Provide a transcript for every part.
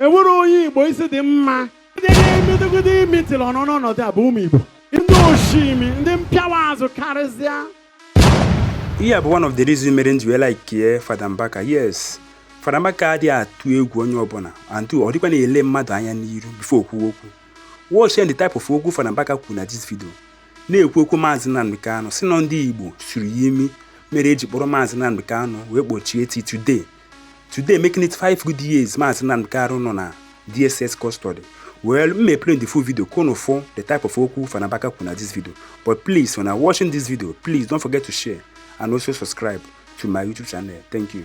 enwere onye igbo isi dị mma ndị ga-emedogide imi tiri ọnụ n'ọnọdụ a bụ ụmụ igbo ndị osu imi ndị mpịawa azụ karịsịa ihe bụ one of the reason mere nji wee like Fada Mbaka yes Fada Mbaka adịghị atụ egwu onye ọbụla and ọ dịkwa na-ele mmadụ anya n'iru before o kwuo okwu watch the type of okwu Fada Mbaka kwuru na this video na-ekwu okwu maazị Nnamdi Kanu sị na ndị Igbo suru ya imi mere eji kpọrọ maazị Nnamdi Kanu wee kpọchie till today today making it five good years maazị Nnamdi Kanu nọ na DSS custody well m may play the full video kono for the type of okwu fanabaka kwu na this video but please when i watching this video please don't forget to share and also subscribe to my youtube channel thank you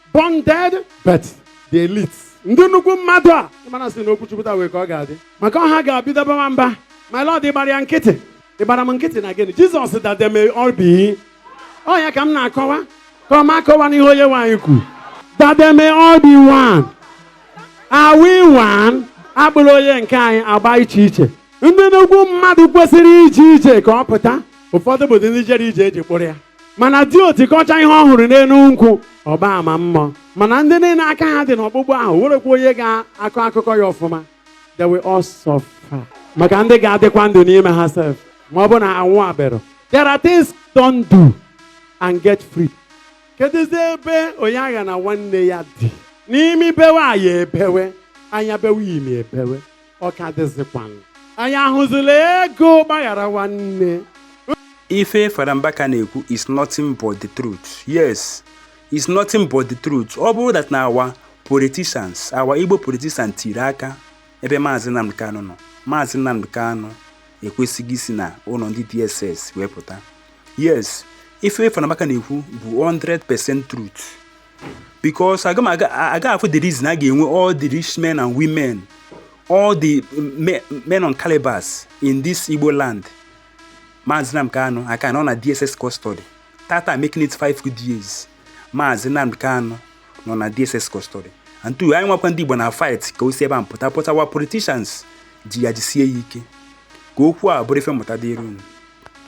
bonded but the elites ndị nnukwu mmadụ a ị mara sị na okwu chukwu taa wee ka ọ ga-adị maka ọha ga-abido bawa mba my lord ị gbara ya nkịtị ị gbara m nkịtị na gịnị jesus that they may all be ọ ya ka m na-akọwa ka ọ ma akọwa n'ihe onye nwaanyị kwu that they may all be one are we one a kpụrụ onye nke anyị agba iche iche ndị nnukwu mmadụ kwesịrị ije ije ka ọ pụta ụfọdụ bụ ndị jere ije eji kpụrụ ya mana diochi kọchaa ihe ọ hụrụ n'elu nkwụ ọ gbaa ama mmụọ mana ndị niile aka ha dị n'ọkpụkpụ ahụ werekwa onye ga-akọ akụkọ ya ọfụma they will all suffer maka ndị ga-adịkwa ndụ n'ime ha sef ma ọ bụ na ha nwụ abịara there are things don't do and get free kedụzi ebe onye aghana nwanne ya dị n'imi bewe anya ebewe anya bewe imi ebewe ọ ka dịzịkwanụ anyị ahụzila ego gbaghara nwanne ife fada mbaka na-ekwu is nothing but the truth yes is nothing but the truth ọ bụrụ that na our politicians our igbo politicians tiri aka ebe maazị nnamdi kanu nọ maazị nnamdi kanu ekwesịghị isi na ụlọ ndị dss wee pụta yes ife fada mbaka na-ekwu bụ 100% truth because agaha afụ the reason a ga-enwe all the rich men and women all the men on calibers in this Igbo land Maazị Nnamdi Kanu aka nọ na DSS custody tata making it five good years Maazị Nnamdi Kanu nọ na DSS custody and two anyị nwakwa ndị Igbo na fight ka o si ebe ahụ pụta but our politicians ji ya jisie ya ike ka okwu a bụrụ ife mmụta dịrị unu